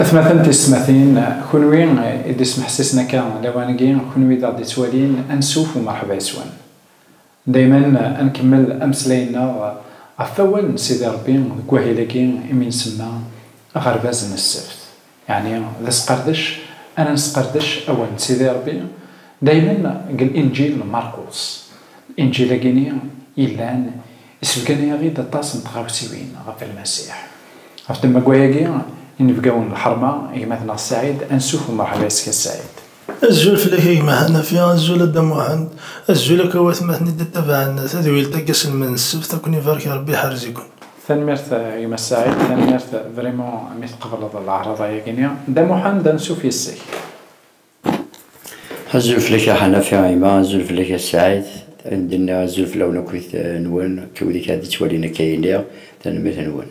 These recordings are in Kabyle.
Atmaten tismatin, kunwi i d-ismeḥsisen akka lawan-agi, kunwi d aɣ-d-ittwalin, ansuf u merḥba yes-wen. Dayman ad nkemmel ameslay-nneɣ ɣef wawal n Sidi Ṛebbi deg wahil-agi imi nsemma Aɣerbaz n Ssebt. Yeɛni d asqerdec ara nesqerdec awal n Sidi Ṛebbi daymen deg Linǧil n Markus. Linǧil-agi-nni yellan yessebgan-aɣ-id aṭas n tɣawsiwin ɣef Lmasiḥ. Ɣef ddemma n wayagi, inebgawen n lḥerma, gma-tneɣ Ssaɛid, ansuf umṛeḥba yes-k a Ssaɛid. Azul fell-ak a gma Hanafi, azul a dda Muḥend, azul akk a watmaten i d-ittabaɛen tadwilt-a deg aselmed n ssebt, a ken-ibarek Rebbi iḥrez-iken. Tanemmirt a gma Saɛid, tanemmirt vraiment mi tqebleḍ leɛraḍ ayagi-nni. Dda Muḥend, ansuf yes-k. Azul fell-ak a Hanafi, a gma, azul fell-ak a Saɛid, ad d-nniɣ azul fell-awen akkit nwen, akkit wid i k-ad-ittwalin akka i nniɣ, tanemmirt-nwen.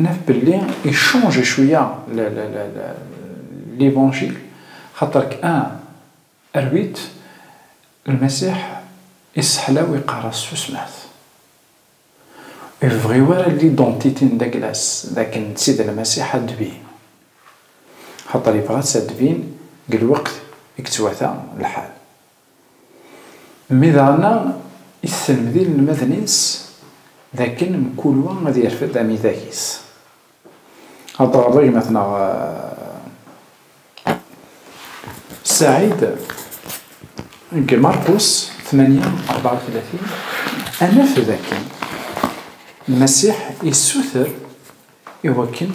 Naf belli ichonge cwiya l'Evangile xaṭer k un rwit Lmasiḥ isseḥlaw iqarr-as susmet. Ur yebɣi wara l'identité n Daglas dakken d tid Lmasiḥ ad d-tbin. Xaṭer yebɣa-tt ad d-tbin deg lweqt i yettwata lḥal. Mi daɣen isselmed inelmaden-is d akken mkul wa ad yerfed amidag-is. Ad d-teɣreḍ a gma-tneɣ Saɛid deg Markus tmanya rebɛa u tlatin, ad naf d akken Lmasiḥ issuter, Iwakken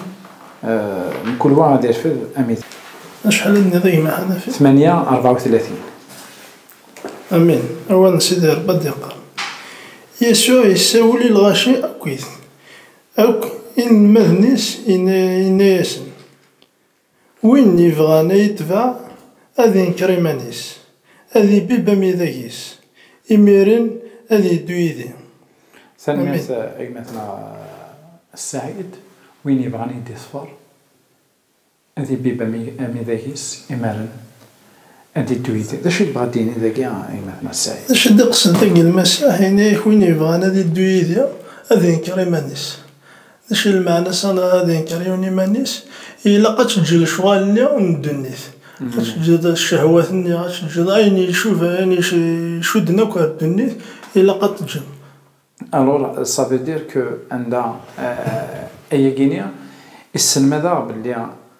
mkul wa ad irfed amitri. Acḥal i d-nniḍ gma Ḥanafi? Tmanya rebɛa u tlatin. Amin. Awal n Sidi Ṛebbi ad d-iqqar. Yasuɛ yessawel i lɣaci akkit akk inelmaden-is, yenna-yasen. Win yebɣan a yi-tbeɛ, ad inker iman-is, ad ibibb amidag-is, imiren ad yeddu yid-i. Tanemmirt a gma-tneɣ Ssaɛid. Win yebɣan a yi-d-iṣfer, ad ibibb amidag-is, imiren ad yeddu yid-i. D acu i yebɣa ad d-yini dagi a gma-tneɣ Ssaɛid? D acu i d-iqesden tagelma-s? Ahat yenna-ak, win yebɣan ad yeddu yid-i, ad inker iman-is, D acu i lmeɛna s anɣa ad inker yiwen iman-is? Ilaq ad teǧǧeḍ lecɣal-nni n ddunit, ad teǧǧeḍ ccehwat-nni, ad teǧǧeḍ ayen icuba, ayen icudden akk ɣer ddunit, ilaq ad t-teǧǧeḍ. Alors, ça veut dire que anda, ayagi-ni isselmad-aɣ belli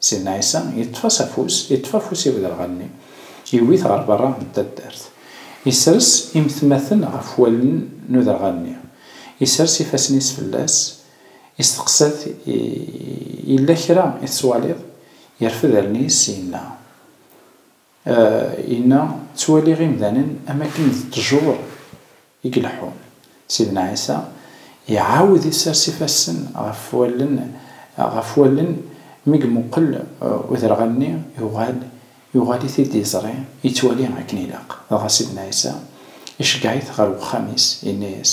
Sidna Ɛisa yeṭṭef-as afus, yeṭṭef afus i wderɣal-nni, yewwi-t ɣer berra n taddart. Yesres imetmaten ɣef wallen n uderɣal-nni, yesres ifassen-is fell-as, yesteqsa-t, Yella kra i tettwaliḍ? Yerfed allen-is, yenna. Yenna, Ttwaliɣ imdanen am akken d ṭṭjur i ileḥḥun. Sidna Ɛisa iɛawed isers ifassen ɣef wallen ɣef wallen, mi imuqel uderɣal-nni yuɣal yuɣal-it-id iẓri, ittwali akken ilaq. Dɣa Sidna Ɛisa iceggeɛ-it ɣer wexxam-is, yenna-yas,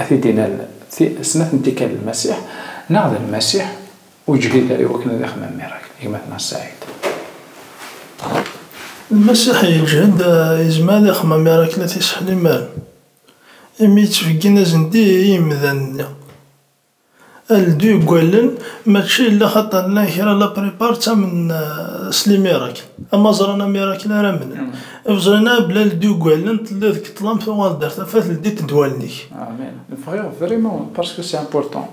A t-id-inan ti snat n tikkal d Lmasiḥ, neɣ d Lmasiḥ ur yeǧhid ara i wakken ad ixemmem miracle, gma-tneɣ Saïd. Lmasiḥ yeǧhed yezmer ad ixemmem miracle a t-iseḥlimaren, imi yettbeggin azendid i yimdanen-nni. Aldi deg wallen mačči yella xaṭer llan kra la prepare ttamen s limirak ama ẓran amirakel ara amnen bẓin a bla ldi deg wallen telliḍ deg ṭlam tuɣaleḍ ar tafat ldit deg wallen-ik. Amen bɣiɣ vraiment parce que c'est important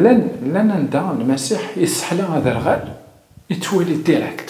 llan llan anda lmasiḥ yesseḥla aderɣal yettwali direct.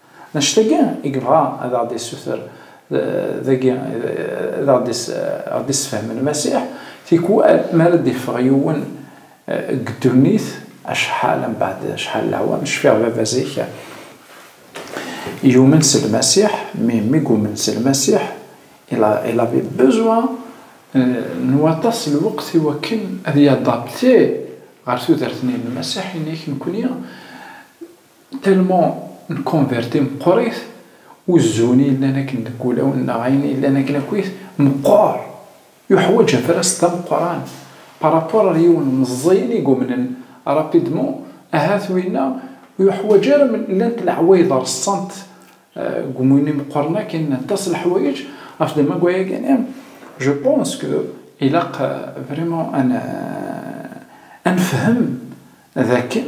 Annect-agi i yebɣa ad aɣ-d-isuter dagi, ad aɣ-d-isefhem Lmasiḥ, tikwal mi ara d-iffeɣ yiwen deg ddunit, acḥal mbeɛd acḥal n leɛwam, cfiɣ baba zik yumen s Lmasiḥ, mi i yumen s Lmasiḥ, il avait besoin n waṭas n lweqt i wakken ad y-adapter ɣer tudert-nni n Lmasiḥ, ini-ak nekni Tellement n converti meqqrit, uzzun i yellan akken deg wulawen neɣ ayen i yellan akken akkit, meqqer, yuḥwaǧ afras d ameqqran par rapport ar yiwen meẓẓiyen i yumnen rapidement, ahat winna ur yuḥwaǧ ara men llant leɛwayed reṣṣant deg umuyen imeqqren akken n aṭas n leḥwayeǧ ɣef d amaggwayagini, je pense que ilaq vraiment ad nefhem d akken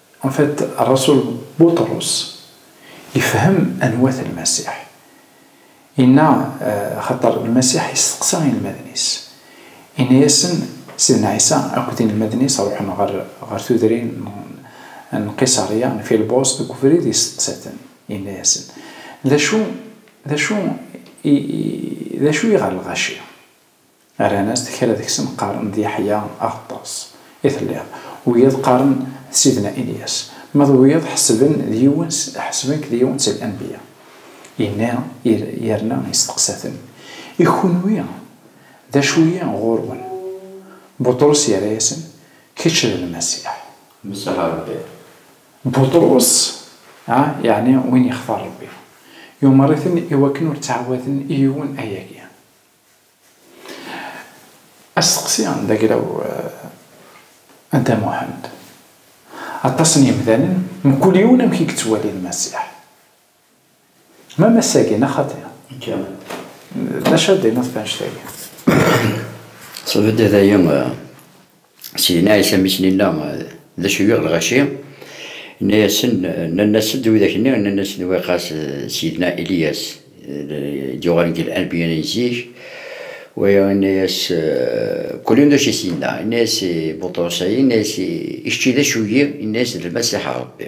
En fait, Rasul Buṭrus ifhem anwa-t Lmasiḥ. Inna, Axaṭer Lmasiḥ isteqsa inelmaden-is. Inna-yasen, Sidna Ɛisa akked inelmaden-is ruḥen ɣer ɣer tudrin n n Qiṣarya n Filbus, deg ubrid isteqsa-ten, inna-yasen, D acu, d acu i, d acu i ɣer lɣaci? Rran-as-d kra deg-sen qqaren d Yeḥya Aɣeṭṭas i telliḍ, wiyaḍ qqaren d Sidna Ilyas, ma d wiyaḍ ḥesben d yiwen s ḥesben-k d yiwen seg Anbiya. Yenna ir yerna yesteqsa-ten, I kunwi d acu-yi ɣur-wen? Buṭrus yerra-yasen, Kečč d Lmasiḥ. Lmasiḥ n Rebbi. Buṭrus, ah, yeɛni win yextar Rebbi, yumer-iten i wakken ur ttɛawaden i yiwen ayagi. Asteqsi d agraw a Dda Muḥend. Aṭas n yemdanen, mkul yiwen amek i yettwali Lmasiḥ. Ma mass-agi, neɣ xaṭi? D acu ara d-tiniḍ ɣef wannect-agi? Sebded ay Syin, Ɛisa mmi-s n inna, D acu yuɣ lɣaci? Inna-yasen, Nnan-asen-d widak-nni, nnan-asen-d Waqas d Ssidna Iliyas i d-yuɣalen deg Anbiya n zik. Waya inna-yas, Kul un d acu i s-yenna. Inna-yas i Buṭrus, Ay, inna-yas, i kečč i d acu-yi? Inna-yas, D Lmasiḥ n Ṛebbi.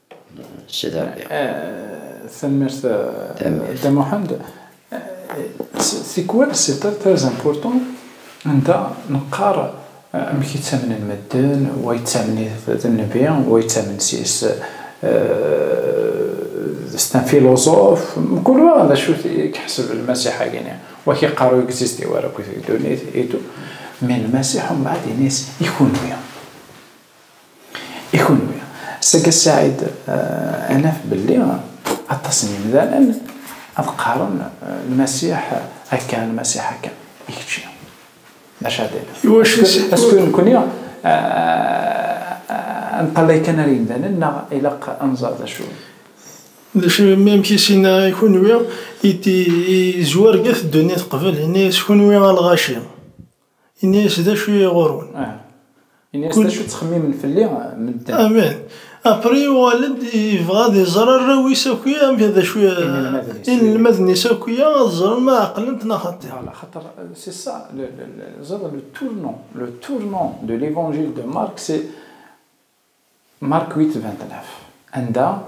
Tanemmirt Dda Muḥend. C'est quoi c'est très important anda neqqar amek i ttamnen medden, wa yettamen-it d nnbi, wa yettamen s c'est un philosophe, mkul wa d acu i iḥseb Lmasiḥ-agi-nni, wa k-iqqar ur existé wara akk deg ddunit et tout, mais Lmasiḥ umbeɛd ini-as i kunwi. I kunwi? Saga Saɛid ad naf belli aṭas n yemdanen ad qqaren Lmasiḥ akka, Lmasiḥ akka. I kečči? D acu ara d-tiniḍ? Acku nekni ad neṭṭalay kan ar yemdanen neɣ ilaq ad nẓer d acu? D acu i mi amek i s-yenna i kunwi? I d-yezwar gat ddunit qbel, yenna-yas, Kunwi a lɣaci! Ini-as d acu i ɣur-wen. Aha. Ini-as d acu ttxemmimen fell-i medden. Amen. Apri yuɣal-d yebɣa ad iẓer arraw-is akk-ya amek d acu inelmaden-is akk-ya ad ẓren ma ɛeqlen-t neɣ xaṭi. Voilà, xaṭer c'est ça le, le, le, ẓer, le tournant, le tournant de l'Evangile de Marc c'est Markuit Ventnaf, anda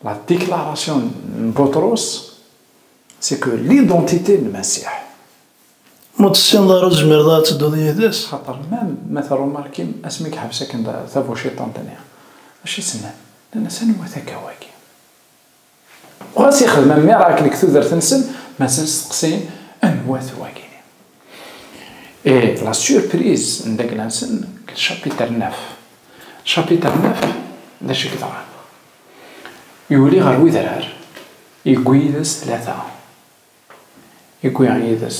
la déclaration n Buṭrus c'est que l'identité n Masiḥ. Ma ur tessineḍ ara ur tezmireḍ ara ad tedduḍ yid-s. Xaṭer mem ma terrumarkim asmi yeḥbes akken tabuciṭant-nni, acu i s-nnan? Nnan-as anwa-t akka wagi? Ɣas ixdem am miracle deg tudert-nsen, mazal steqsayen anwa-t wagini. Et la surprise n dagla-nsen deg chapitre neuf. Chapitre neuf, d acu i yeḍran? Yuli ɣer wedrar, yewwi yid-s tlata. Yewwi yid-s.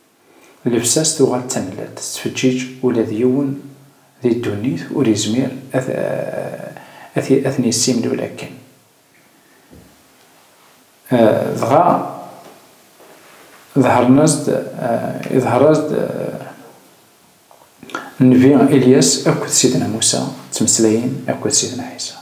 Llebsa-s tuɣal d tamellalt, tettfeǧǧiǧ, ula d yiwen di ddunit ur yezmir ad ten-yessimlul akken. Dɣa ḍehren-as-d, iḍher-as-d Nnbi Ilyas akked Sidna Musa, ttmeslayen akked Sidna Ɛisa.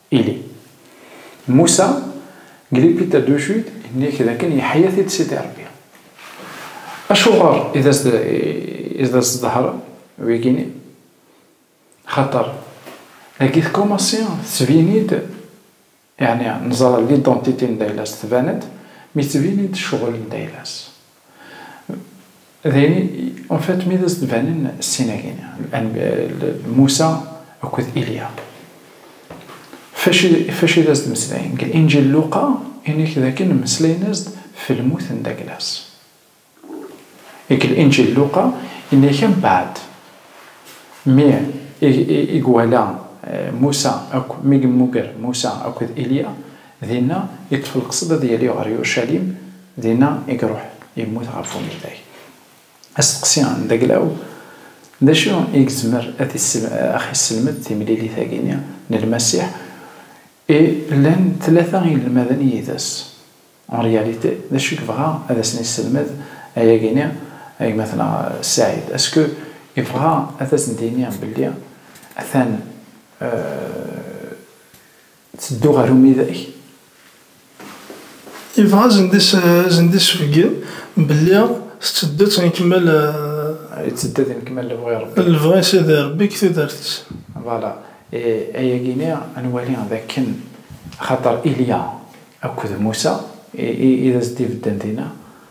Ili. Musa, deg Lipita du Sud, yenna-ak dakken yeḥya-t-id Sidi Ṛebbi. Acuɣer i d as-tḍehren wigi-nni? Axaṭer dagi tkumassi tettbin-id, yeɛni neẓra lidantiti n Daylas tban-d mi ttbin-id ccɣel n Daylas. Dayni, en fait, mi d as-d-banen sin-agi, Musa akked Ilya, fac i d as-d-meslayen? Deg Inǧil Luqa, ini-k dakken mmeslayen-as-d f lmut n Daglas. Deg Inǧil Luqa, ini-k ambaɛd, mi i gwala Musa akk, mi gemmuger Musa akked Ilya, Dinna iṭṭef lqesd ad yali ɣer Yurcalim, dinna i iruḥ yemmut ɣef umidag. Asteqsi n Daglaw, D acu i yezmer ad aɣ-yesselmed timlilit-agi-nni n Lmasiḥ i llan tlata n yinelmaden yid-s? En réalité, d acu i yebɣa ad asen-yesselmed ayagi-nni gma-tneɣ Saïd? Est-ce que yebɣa ad asen-d-yini belli atan Ttedduɣ ɣer umidag. Yebɣa ad sen-d-isbegg belli tetteddu d tnekmal. Itteddu d nekmal lebɣi Rebbi. Lebɣi Sidi Rebbi deg tudert-is. Voilà. Ayagi-ni ad nwali d akken axaṭer Ilya akked Musa i d as-d-ibedden dinna.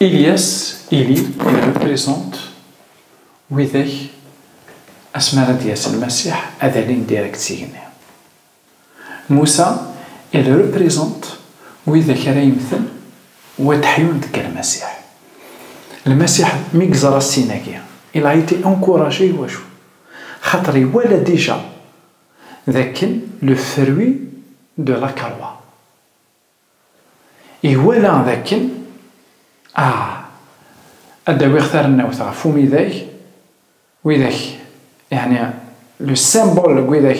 Ilyas, ili, il représente widak asmi ara d-yas Lmasiḥ ad alin direct s igenni. Musa, il représente widak ara yemmten u ad d-ḥyun deg Lmasiḥ. Lmasiḥ mi yeẓra ssin-agi, il a été encouragé iwacu? Xaṭer iwala déjà dakken le fruit de la croix. Iwala d akken, ah, ad d-awiɣ tarennawt ɣef umidag, widak, yeɛni le symbole n widak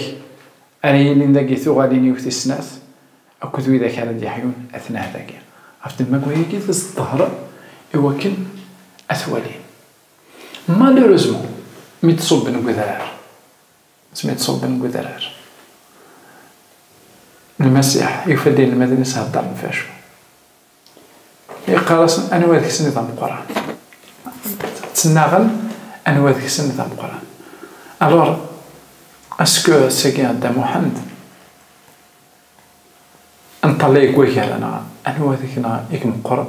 ara yilin dagi tuɣalin-iw tis snat akked widak ara d-yeḥyun atnah dagi, ɣef temmagwa-agi d as-d-ḍehren i wakken ad t-walin. Malheureusement, mi d-ṣubben deg udrar, Asmi d-ṣubben deg udrar, Lmasiḥ yufa-d inelmaden-is heddren ɣef wacu? Yeqqar-asen, Anwa deg-sen i d ameqqran? Ttnaɣen anwa deg-sen i d ameqqran. Alors, est-ce que ass-agi Dda Muḥend nṭallay deg wagar-a neɣ anwa deg-neɣ i imeqqren?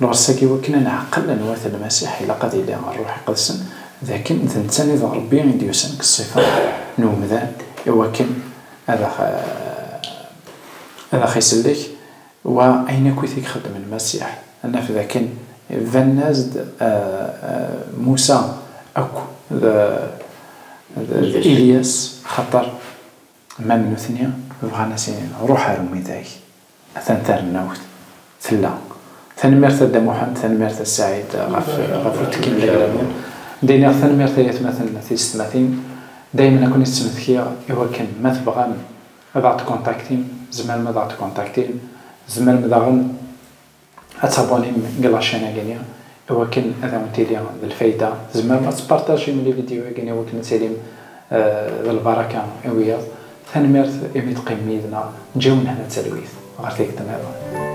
Lɣessa-agi i wakken a neɛqel anwa-t Lmasiḥ, ilaq ad yili Rruḥ Iqedsen, d akken d netta nid Rebbi i d-yusan deg ṣṣifa n umdan i wakken ad aɣ ad aɣ-isellek, wa ayen akkit i ixeddem Lmasiḥ, ad naf d akken banen-as-d Musa akk d d Ilyas, axaṭer ma d nutni bɣan a s-inin, Ruḥ ar umidag. Atan tarennawt tella. Tanemmirt a Dda Muḥend, tanemmirt a Ssaɛid ɣef uttekki n legramun. Ddiniɣ tanemmirt ay atmaten tiysetmatin, daymen ad ken-id-ttmetkiɣ i wakken ma tebɣam ad aɣ-d-kontaktim, tzemrem ad aɣ-d-kontaktim, tzemrem daɣen. Ad tabonnim deg lacin-agi-nni i wakken ad awen-tili d lfayda. Tzemrem ad tpartajim lividyu-agi-nni i wakken ad tilim d lbaraka i wiyaḍ. Tanemmirt imi teqqimem yid-neɣ. Ǧǧiɣ lehna d talwit ɣer tikkelt niḍen.